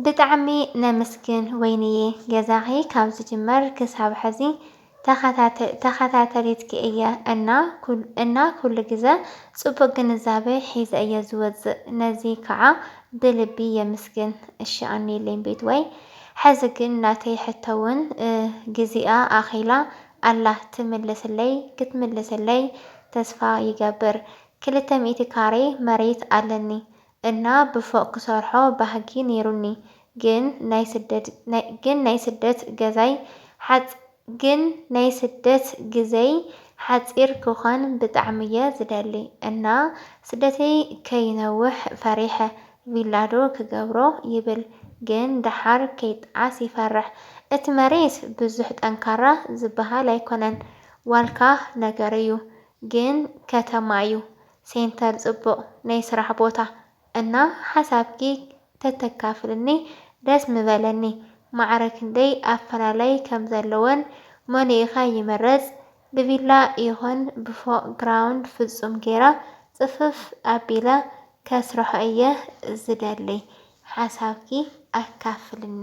ብጣዕሚ ነምስግን ወይንየ ገዛኺ ካብ ዝጅመር ክሳብ ሐዚ ተኻታተሊትኪ እየ እና ኩሉ ግዘ ፅቡቅ ግንዛበ ሒዘ እየ ዝወፅእ ነዚ ከዓ ብልቢ የምስግን እሺ ኣንይለይ ቤትወይ ሐዚ ግን ናተይ ሕቶውን ግዚኣ ኣኺላ ኣላ ትምልስለይ ክትምልስለይ ተስፋ ይገብር ክልተ ሚእቲ ካሬ መሬት ኣለኒ እና ብፎቅ ክሰርሖ ባህጊ ነይሩኒ ግን ናይ ስደት ግን ናይ ስደት ገዛይ ሓጽ ግን ናይ ስደት ግዘይ ሓጺር ክኮን ብጣዕሚ እየ ዝደሊ እና ስደተይ ከይነውሕ ፈሪሐ ቪላ ዶ ክገብሮ ይብል ግን ደሓር ከይጣዓስ ይፈርሕ እቲ መሬት ብዙሕ ጠንካራ ዝብሃል ኣይኮነን ዋልካ ነገር እዩ ግን ከተማ እዩ ሴንተር ጽቡቅ ናይ ስራሕ ቦታ እና ሓሳብኪ ተተካፍልኒ ደስ ምበለኒ ማዕረ ክንደይ ኣፈላላይ ከም ዘለወን መሊእካ ይምረጽ ብቪላ ይኩን ብፎቅ ግራውንድ ፍጹም ጌራ ጽፍፍ ኣቢለ ከስርሖ እየ ዝደሊ ሓሳብኪ ኣካፍልኒ።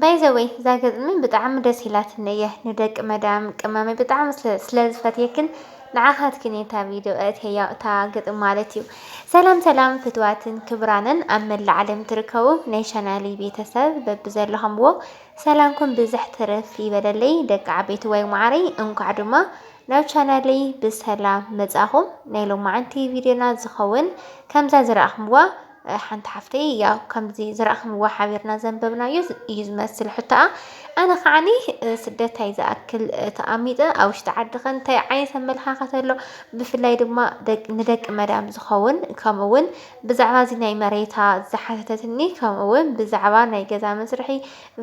ባይ ዘ ዌይ እዛ ግጥሚ ብጣዕሚ ደስ ኢላትኒ እያ ንደቂ መዳም ቅመመይ ብጣዕሚ ስለ ዝፈትየክን ንዓኻትክን እየ እታ ቪድዮ ኣእትየያ እታ ግጥሚ ማለት እዩ። ሰላም ሰላም ፍትዋትን ክብራንን ኣብ መላእ ዓለም ትርከቡ ናይ ቻናሊ ቤተሰብ በብዘለኹምዎ ሰላምኩም ብዝሕ ትርፍ ይበለለይ ደቂ ዓበይቲ ወይ ማዓረይ እንኳዕ ድማ ናብ ቻናለይ ብሰላም መጻኹም ናይ ሎማዓንቲ ቪድዮና ዝኸውን ከምዛ ዝረኣኹምዋ ሓንቲ ሓፍተይ ያው ከምዚ ዝረኣኽምዎ ሓቢርና ዘንበብናዮ እዩ ዝመስል ሕቶኣ ኣነ ከዓኒ ስደታይ ዝኣክል ተኣሚጠ ኣብ ውሽጢ ዓዲ ከ እንታይ ዓይነት ኣመለኻኸት ኣሎ ብፍላይ ድማ ንደቂ መዳም ዝኸውን ከምኡ እውን ብዛዕባ እዚ ናይ መሬታ ዝሓተተትኒ ከምኡ እውን ብዛዕባ ናይ ገዛ መስርሒ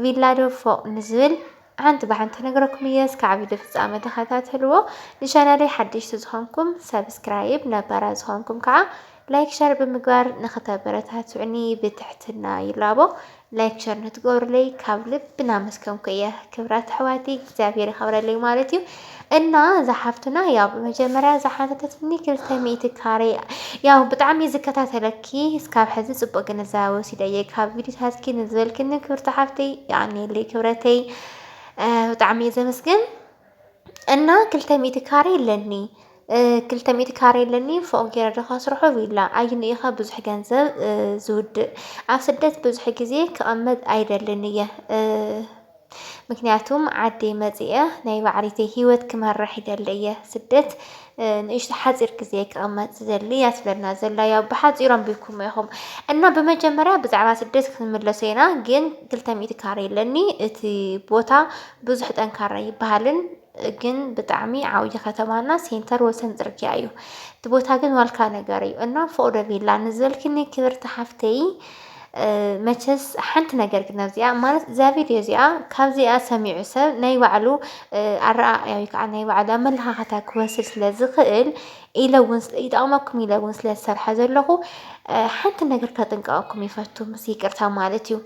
ቪላዶ ፎቕ ንዝብል ሓንቲ ብሓንቲ ነግረኩም እየ እስካዕ ቪድዮ ፍጻመ ተኸታተልዎ ንቻናለይ ሓደሽቲ ዝኾንኩም ሰብስክራይብ ነባራት ዝኾንኩም ከዓ ላይክ ሸር ብምግባር ንክተበረታትዑኒ ብትሕትና ይላቦ ላይክ ሸር ንትገብሩለይ ካብ ልቢ ናመስከምኩ እየ ክብራት ኣሕዋተይ እግዚኣብሔር ይኸብረለይ ማለት እዩ እና እዛ ሓፍትና ያው ብመጀመርያ ዝሓተተትኒ ክልተ ሚእቲ ካሬ ያው ብጣዕሚ ዝከታተለኪ እስካብ ሕዚ ፅቡቅ ግንዛቤ ወሲደ እየ ካብ ቪዲዮታትኪ ንዝበልክኒ ክብርቲ ሓፍተይ የቀንየለይ ክብረተይ ብጣዕሚ እየ ዘመስግን እና ክልተ ሚእቲ ካሬ ኣለኒ ክልተ ሚእቲ ካሬ ኣለኒ ፎቅ ገይረ ዶ ከስርሖ ቪላ ኣይኑ ኢኸ ብዙሕ ገንዘብ ዝውድእ ኣብ ስደት ብዙሕ ግዜ ክቕመጥ ኣይደልን እየ ምክንያቱም ዓደይ መፂኤ ናይ ባዕሪተይ ሂወት ክመርሕ ይደሊ እየ ስደት ንእሽቶ ሓፂር ግዜ ክቕመጥ ዝደሊ እያ ትብለና ዘላ ያው ብሓፂሩ ኣንቢብኩሞ ኢኹም እና ብመጀመርያ ብዛዕባ ስደት ክንምለሶ ኢና ግን ክልተ ሚእቲ ካሬ ኣለኒ እቲ ቦታ ብዙሕ ጠንካራ ይበሃልን ግን ብጣዕሚ ዓብይ ከተማ እና ሴንተር ወሰን ፅርግያ እዩ እቲ ቦታ ግን ዋልካ ነገር እዩ እና ፎቅዶ ቪላ ንዘልክኒ ክብርቲ ሓፍተይ መቸስ ሓንቲ ነገር ግን ኣብዚኣ ማለት እዛ ቪድዮ እዚኣ ካብዚኣ ሰሚዑ ሰብ ናይ ባዕሉ ኣረኣእያ ወይ ከዓ ናይ ባዕሉ ኣመለኻኸታ ክወስድ ስለ ዝኽእል ኢለ እውን ይጠቕመኩም ኢለ እውን ስለ ዝሰርሐ ዘለኹ ሓንቲ ነገር ከጥንቀቐኩም ይፈቱ ምስ ይቅርታ ማለት እዩ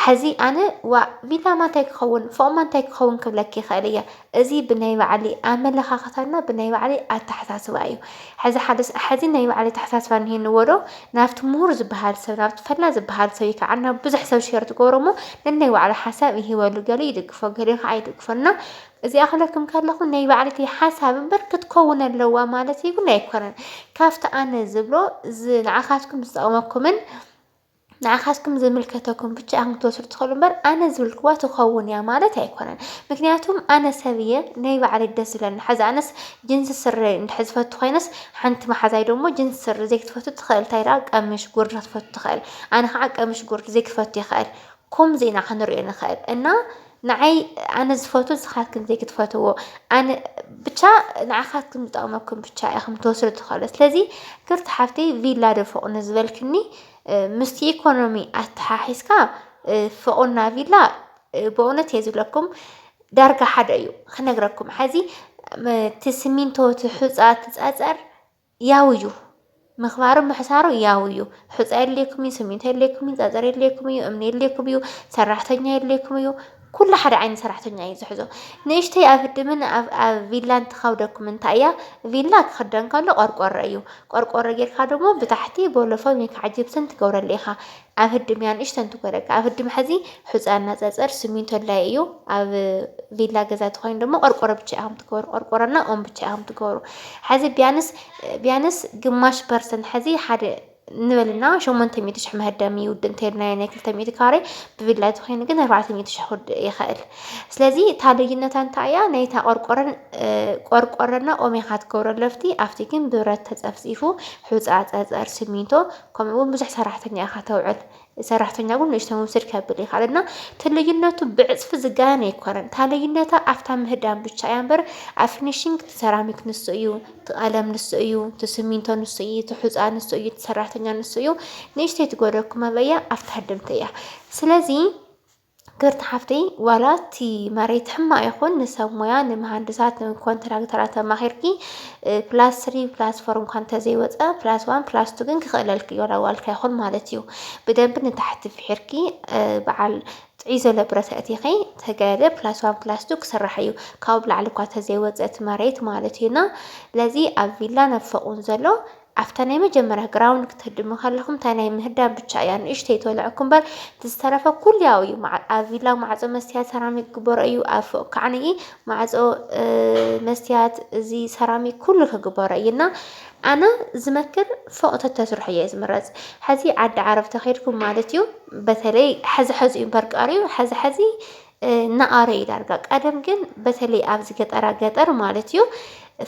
ሐዚ ኣነ ዋእ ሚላማ እንታይ ክኸውን ፎእማ እንታይ ክኸውን ክብለኪ ይኽእል እየ። እዚ ብናይ ባዕሊ ኣመለኻኽታና ብናይ ባዕሊ ኣተሓሳስባ እዩ። ሐዚ ሓደ ሐዚ ናይ ባዕሊ ኣተሓሳስባ እኒሀንዎ ዶ ናብቲ ምሁር ዝበሃል ሰብ ናብቲ ፈላጥ ዝበሃል ሰብ ከዓ ናብ ብዙሕ ሰብ ሸር ትገብሮ እሞ ነናይ ባዕሉ ሓሳብ ይህበሉ ገሊኡ ይድግፎ ገሊኡ ከዓ ኣይድግፎን እና እዚኣ ክብለኩም ከለኹ ናይ ባዕልቲ ሓሳብ እምበር ክትከውን ኣለዋ ማለት እውን ኣይኮነን። ካብቲ ኣነ ዝብሎ ንዓኻትኩም ዝጠቕመኩምን ንዓኻትኩም ዝምልከተኩም ብቻ ኢኹም ክትወስዱ ትኽእሉ እምበር ኣነ ዝብልክዋ ትኸውን እያ ማለት ኣይኮነን። ምክንያቱም ኣነ ሰብ እየ ናይ ባዕለይ ደስ ዝብለኒ ሕዚ ኣነስ ጅንስ ስረ እንድሕር ዝፈቱ ኮይነስ ሓንቲ መሓዛይ ደሞ ጅንስ ስረ ዘይክትፈቱ ትኽእል እንታይ ደኣ ቀምሽ ጉርዲ ክትፈቱ ትኽእል ኣነ ከዓ ቀምሽ ጉርዲ ዘይክፈቱ ይኽእል ከምዚ ኢና ክንሪኦ ንኽእል እና ንዓይ ኣነ ዝፈቱ ንስኻትክን ዘይክትፈትዎ ኣነ ብቻ ንዓኻትክን ዝጠቕመኩም ብቻ ኢኹም ትወስዱ ትኸእሉ ስለዚ ክርቲ ሓፍቲ ቪላ ዶ ፎቕ ንዝበልክኒ ምስቲ ኢኮኖሚ ኣተሓሒዝካ ፎቕና ቪላ ብእውነት እየ ዝብለኩም ዳርጋ ሓደ እዩ ክነግረኩም ሓዚ እቲ ስሚንቶ እቲ ሑፃ እቲ ፀፀር ያው እዩ ምኽባሩ ምሕሳሩ ያው እዩ። ሑፃ የድልየኩም እዩ፣ ስሚንቶ የድልየኩም እዩ፣ ፀፀር የድልየኩም እዩ፣ እምኒ የድልየኩም እዩ፣ ሰራሕተኛ የድልየኩም እዩ። ኩሉ ሓደ ዓይነት ሰራሕተኛ እዩ ዝሕዞ። ንእሽተይ ኣፍድምን ኣብ ቪላን ትኸብደኩም እንታይ እያ? ቪላ ክኽደን ከሎ ቆርቆሮ እዩ። ቆርቆሮ ጌርካ ደሞ ብታሕቲ ቦሎፎን ወይ ከዓ ጅብስን ትገብረሉ ኢኻ። ኣብ ህድም እያ ንእሽተን ትጎደካ ኣብ ህድም ሐዚ ሑፃ እና ፀፀር ስሚንቶ ላይ እዩ ኣብ ቪላ ገዛ ተኮይኑ ደሞ ቆርቆሮ ብቻ ኢኹም ትገበሩ ቆርቆሮ እና ኦም ብቻ ኢኹም ትገበሩ ሐዚ ቢያንስ ቢያንስ ግማሽ ፐርሰንት ሐዚ ሓደ ንበልና ሸሞንተ ሚእቲ ሽሕ መህደሚ ይውድእ እንተይልናዮ ናይ ክልተ ሚእቲ ካሬ ብቪላ ተኮይኑ ግን ኣርባዕተ ሚእቲ ሽሕ ክውድእ ይኽእል ስለዚ እታ ልዩነታ እንታይ እያ ናይታ ቆርቆረን ቆርቆረና ኦም ኢኻ ትገብሮ ለፍቲ ኣብቲ ግን ብረት ተፀፍፂፉ ሑፃ ፀፀር ስሚንቶ ከምኡ ውን ብዙሕ ሰራሕተኛ ኢኻ ተውዕል ሰራሕተኛ ውን ንእሽተይ ውስድ ከብል ይኽእል እና እቲ ልዩነቱ ብዕፅፊ ዝጋየን ኣይኮነን እታ ልዩነታ ኣብታ ምህዳም ብቻ እያ እምበር ኣብ ፊኒሽንግ እቲ ሰራሚክ ንሱ እዩ እቲ ቀለም ንሱ እዩ እቲ ስሚንቶ ንሱ እዩ እቲ ሑፃ ንሱ እዩ እቲ ሰራሕተኛ ንሱ እዩ ንእሽተይ ትጎደኩም ኣበያ ኣብታ ድምቲ እያ ስለዚ ክብርቲ ሓፍተይ ዋላ እቲ መሬት ሕማቅ ይኹን ንሰብ ሞያ ንመሃንድሳት ንኮንትራክተራት ኣማኺርኪ ፕላስ ስሪ ፕላስ ፎር እንኳን እንተዘይወፀ ፕላስ ዋን ፕላስ ቱ ግን ክኽእለልኪ እዩ ዋላ ዋልካ ይኹን ማለት እዩ። ብደንቢ ንታሕቲ ፍሒርኪ በዓል ጥዑይ ዘሎ ብረት ኣእቲኺ ተጋደ ፕላስ ዋን ፕላስ ቱ ክስራሕ እዩ ካብኡ ብላዕሊ እኳ ተዘይወፀ እቲ መሬት ማለት እዩና ለዚ ኣብ ቪላን ኣብ ፎቅን ዘሎ ኣብታ ናይ መጀመርያ ግራውንድ ክትህድሙ ከለኹም እታ ናይ ምህዳም ብቻ እያ ንእሽተይ ተወልዐኩም እምበር እቲ ዝተረፈ ኩሉ ያው እዩ። ኣብ ቪላ ማዕፆ መስትያት ሰራሚክ ክግበሮ እዩ ኣብ ፎቅ ካዕኒ ማዕፆ መስትያት እዚ ሰራሚክ ኩሉ ክግበሮ እዩ እና ኣነ ዝመክር ፎቅ ተተስርሑ እየ ዝምረፅ ሕዚ ዓዲ ዓረብ ተኸድኩም ማለት እዩ በተለይ ሕዚ ሕዚ እዩ እምበር ቀሪዩ ሕዚ ሕዚ እናኣረ እዩ ዳርጋ ቀደም ግን በተለይ ኣብዚ ገጠራ ገጠር ማለት እዩ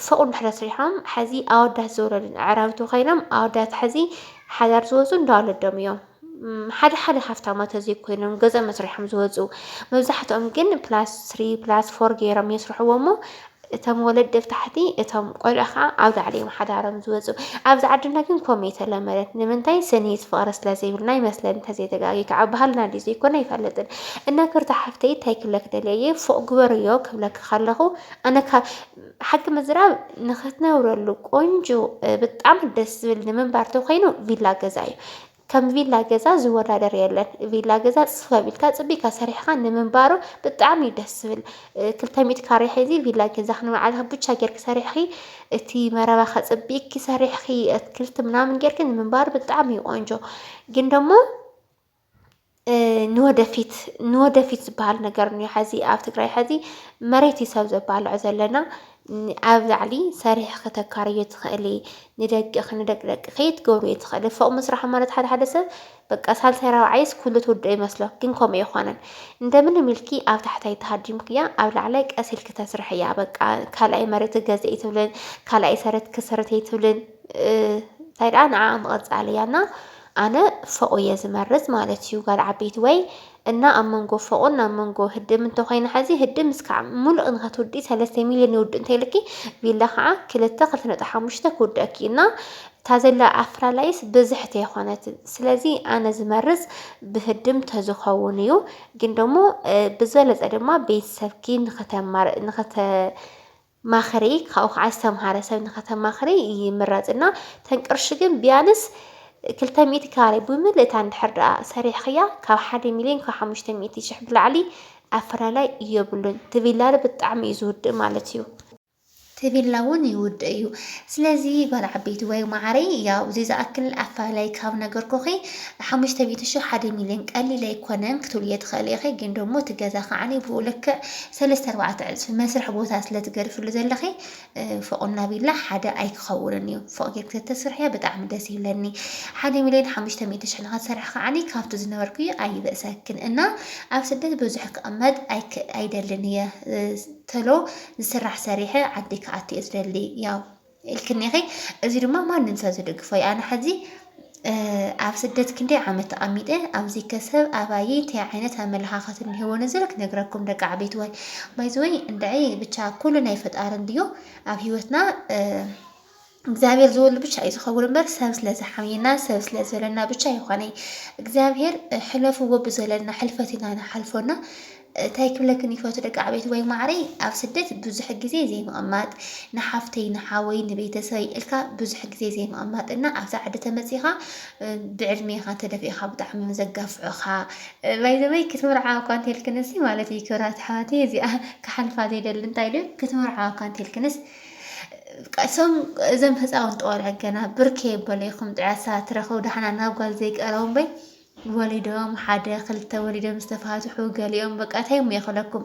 ፎቕ እንድሕር ኣስሪሖም ሐዚ ኣወዳት ዝወለዱን ኣዕራብቱ ኮይኖም ኣወዳት ሐዚ ሓዳር ዝወፁ እንዳ ወለዶም እዮም ሓደ ሓደ ሃፍታማት ዘይኮይኖም ገዛ መስርሖም ዝወፁ መብዛሕትኦም ግን ፕላስ ስሪ ፕላስ ፎር ገይሮም የስርሕዎ እሞ እቶም ወለዲ ኣብ ታሕቲ እቶም ቆልዑ ከዓ ኣብ ላዕሊ እዮም ሓዳሮም ዝወፁ። ኣብዚ ዓድና ግን ከምኡ የተለመደት ንምንታይ ስኒት ፍቕሪ ስለ ዘይብልና ይመስለኒ ተዘይተጋጊ ከዓ ባህልና ድዩ ዘይኮነ ኣይፈልጥን። እና ክርታ ሓፍተይ እንታይ ክብለክ ደልየ እየ ፎቕ ግበርዮ ክብለክ ከለኹ ኣነ ሓቂ ምዝራብ ንክትነብረሉ ቆንጆ ብጣዕሚ ደስ ዝብል ንምንባር ተኮይኑ ቪላ ገዛ እዩ። ከም ቪላ ገዛ ዝወዳደር የለን ቪላ ገዛ ጽፍፍ ኣቢልካ ጽቢካ ሰሪሕካ ንምንባሩ ብጣዕሚ እዩ ደስ ዝብል ክልተ ሚእቲ ካሬ ሒዚ ቪላ ገዛ ክንባዓልካ ብቻ ጌርኪ ሰሪሕኪ እቲ መረባ ከጽቢቅኪ ሰሪሕኪ ኣትክልቲ ምናምን ጌርኪ ንምንባሩ ብጣዕሚ እዩ ቆንጆ ግን ደሞ ንወደፊት ንወደፊት ዝበሃል ነገር እኒኦ ሐዚ ኣብ ትግራይ ሐዚ መሬት እዩ ሰብ ዘባልዖ ዘለና ኣብ ላዕሊ ሰሪሕ ከተካርዮ ትኽእሊ ንደቅኺ ንደቂ ደቅኺ ትገብርዮ ትኽእሊ ፎቕ ምስራሕ ማለት ሓደ ሓደ ሰብ በቃ ሳልሳይ ራብዓይስ ኩሉ ትውድኦ ይመስሎ ግን ከምኡ ኣይኮነን እንደምን ኢልኪ ኣብ ታሕታይ ተሃዲምክያ ኣብ ላዕላይ ቀስ ኢልኪ ተስርሕያ በቃ ካልኣይ መሬት ገዘ ይትብልን ካልኣይ ሰረት ክሰረት ይትብልን እንታይ ደኣ ንዓ ምቕፃል እያ እና ኣነ ፎቕ እየ ዝመርጽ ማለት እዩ ጋል ዓበይቲ ወይ እና ኣብ መንጎ ፎቕን ኣብ መንጎ ህድም እንተ ኮይና ሐዚ ህድም እስካዕ ሙሉእ ንኸትውዲ ሰለስተ ሚልዮን ይውድእ እንተይልኪ ቪላ ከዓ ክልተ ክልተ ነጥቢ ሓሙሽተ ክውደእኪ እና እታ ዘላ ኣፍላላይስ ብዝሕቲ የኾነት ስለዚ ኣነ ዝመርጽ ብህድም ተዝኸውን እዩ ግን ደሞ ብዝበለጸ ድማ ቤተሰብኪ ንኸተማር ንኸተ ማክሪ ካብኡ ከዓ ዝተምሃረ ሰብ ንከተማክሪ ይምረፅ እና ተን ቅርሺ ግን ቢያንስ ክልተ ሚእቲ ካሬ ብምልእታ እንድሕር ደኣ ሰሪሕኽያ ካብ ሓደ ሚሊዮን ካብ ሓሙሽተ ሚእቲ ሽሕ ብላዕሊ ኣፈላላይ የብሉን። እቲ ቪላ ብጣዕሚ እዩ ዝውድእ ማለት እዩ። እቲ ቪላ እውን ይውድእ እዩ። ስለዚ ጓል ዓበይቲ ወይ ማዓረይ ያው እዚ ዝኣክል ኣፈላላይ ካብ ነገርኩኺ ሓሙሽተ ሚእቲ ሽሕ ሓደ ሚሊዮን ቀሊል ኣይኮነን ክትብልዮ ትኽእሊ ኢኺ ግን ደሞ እቲ ገዛ ከዓኒ ብኡ ልክዕ ሰለስተ ኣርባዕተ ዕጽፊ መስርሒ ቦታ ስለ ትገድፍሉ ዘለኺ ፎቕ እና ቪላ ሓደ ኣይክኸውንን እዩ ፎቕ ጌርኪ ተተስርሕዮ ብጣዕሚ ደስ ይብለኒ ሓደ ሚልዮን ሓሙሽተ ሚእቲ ሽሕ ንኸትሰርሒ ከዓኒ ካብቲ ዝነበርክዮ ኣይብእሰክን እና ኣብ ስደት ብዙሕ ክቕመጥ ኣይክ ኣይደልን እየ ተሎ ዝስራሕ ሰሪሐ ዓዲ ክኣቱ እየ ዝደሊ ያው ኢልክኒ ኢኺ እዚ ድማ ማንም ሰብ ዝድግፎ እዩ ኣነ ሕዚ ኣብ ስደት ክንደይ ዓመት ተቐሚጠ ኣብዚ ከሰብ ኣባይ እንታይ ዓይነት ኣመለኻኸት እንህቦ ንዝብል ክነግረኩም ደቂ ዓበይቲ ወይ ባይዘወይ እንድዒ ብቻ ኩሉ ናይ ፈጣሪ እንድዮ ኣብ ሂወትና እግዚኣብሔር ዝወሉ ብቻ እዩ ዝኸውን እምበር ሰብ ስለዝሓምየና ሰብ ስለዘለና ብቻ ይኾነ እግዚኣብሔር ሕለፍዎ ብዘለና ሕልፈት ኢና ንሓልፎና ታይ ክብለክን ይፈቱ ደቂ ዓበይቲ ወይ ማዓረይ ኣብ ስደት ብዙሕ ግዜ ዘይምቅማጥ ንሓፍተይ ንሓወይ ንቤተሰበይ እልካ ብዙሕ ግዜ ዘይምቅማጥ እና ኣብዛ ዓዲ ተመፂኻ ብዕድሜኻ ተደፊእኻ ብጣዕሚ እዮም ዘጋፍዑኻ ባይዘወይ ክትምርዓዋ እኳ እንተልክንሲ ማለት እዩ ክብራት ኣሕዋተይ እዚኣ ክሓልፋ ዘይደሊ እንታይ ድዩ ክትምርዓዋ እኳ እንተልክንስ እሶም እዞም ህፃውንቲ ቆልዑ ገና ብርኬ በለይኹም ጥዕሳ ትረኸቡ ዳሕና ናብ ጓል ዘይቀረቡ እምበይ ወሊዶም ሓደ ክልተ ወሊዶም ዝተፋትሑ ገሊኦም በቃ እንታይ እሞ ይኽለኩም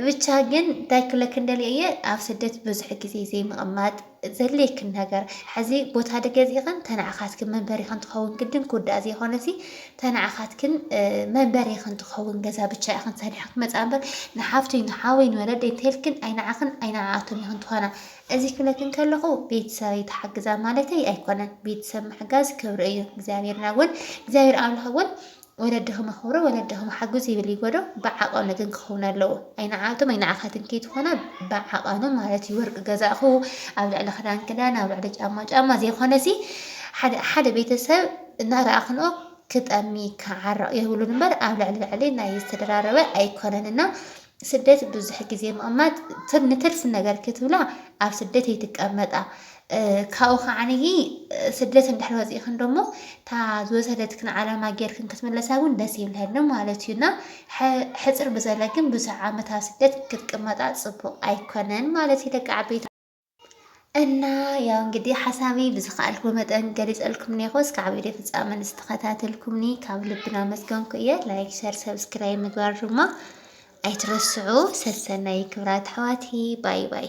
ብቻ ግን እንታይ ክለክን ደልየ እየ ኣብ ስደት ብዙሕ ግዜ ዘይምቕማጥ ዘድልየክን ነገር ሕዚ ቦታ ድገዚእኽን ተናዕኻትክን መንበሪኽን ትኸውን ግድን ክውዳእ ዘይኮነ እዚ ተናዕኻትክን መንበሪኽን ትኸውን ገዛ ብቻ ኢኽን ሰሪሕክን መፃ እምበር ንሓፍተይ ንሓወይ ንወለደይ እንተልክን ኣይንዓኽን ኣይንዓኣቱን ኢኽን ትኾና እዚ ክብለኪ እንከለኹ ቤተሰበይ ተሓግዛ ማለተይ ኣይኮነን ቤተሰብ ምሕጋዝ ክብሪ እዩ እግዚኣብሔርና እውን እግዚኣብሔር ኣምላኽ እውን ወለድኹም ኣኽብሩ ወለድኹም ሓግዙ ይብል ይጎዶ ብዓቐኑ ግን ክኸውን ኣለዎ ኣይንዓቱም ኣይንዓኻትን ከይትኾና ብዓቐኑ ማለት እዩ ወርቂ ገዛእኹ ኣብ ልዕሊ ክዳን ክዳን ኣብ ልዕሊ ጫማ ጫማ ዘይኮነ ሲ ሓደ ቤተሰብ እናረኣኽንኦ ክጠሚ ክዓረቕ የብሉን እምበር ኣብ ልዕሊ ልዕሊ ናይ ዝተደራረበ ኣይኮነን እና ስደት ብዙሕ ግዜ ምቕማጥ ንትርፊ ነገር ክትብላ ኣብ ስደት ኣይትቀመጣ ካብኡ ከዓንይ ስደት እንድሕር ወፂእክን ደሞ እታ ዝወሰደትክን ዓላማ ጌርክን ክትምለሳ እውን ደስ ይብለኒ ማለት እዩ እና ሕፅር ብዘለ ግን ብዙሕ ዓመት ኣብ ስደት ክትቅመጣ ፅቡቕ ኣይኮነን ማለት እዩ ደቂ ዓበይቲ እና ያው እንግዲህ ሓሳበይ ብዝኸኣልኩ መጠን ገሊፀልኩም ኔኹ እስካዕ ቪድዮ ፍፃመ ንዝተኸታተልኩምኒ ካብ ልብና መስገንኩ እየ። ላይክ፣ ሸር፣ ሰብስክራይብ ምግባር ድማ ኣይትረስዑ። ሰሰናይ ክብራት ኣሕዋትይ ባይ ባይ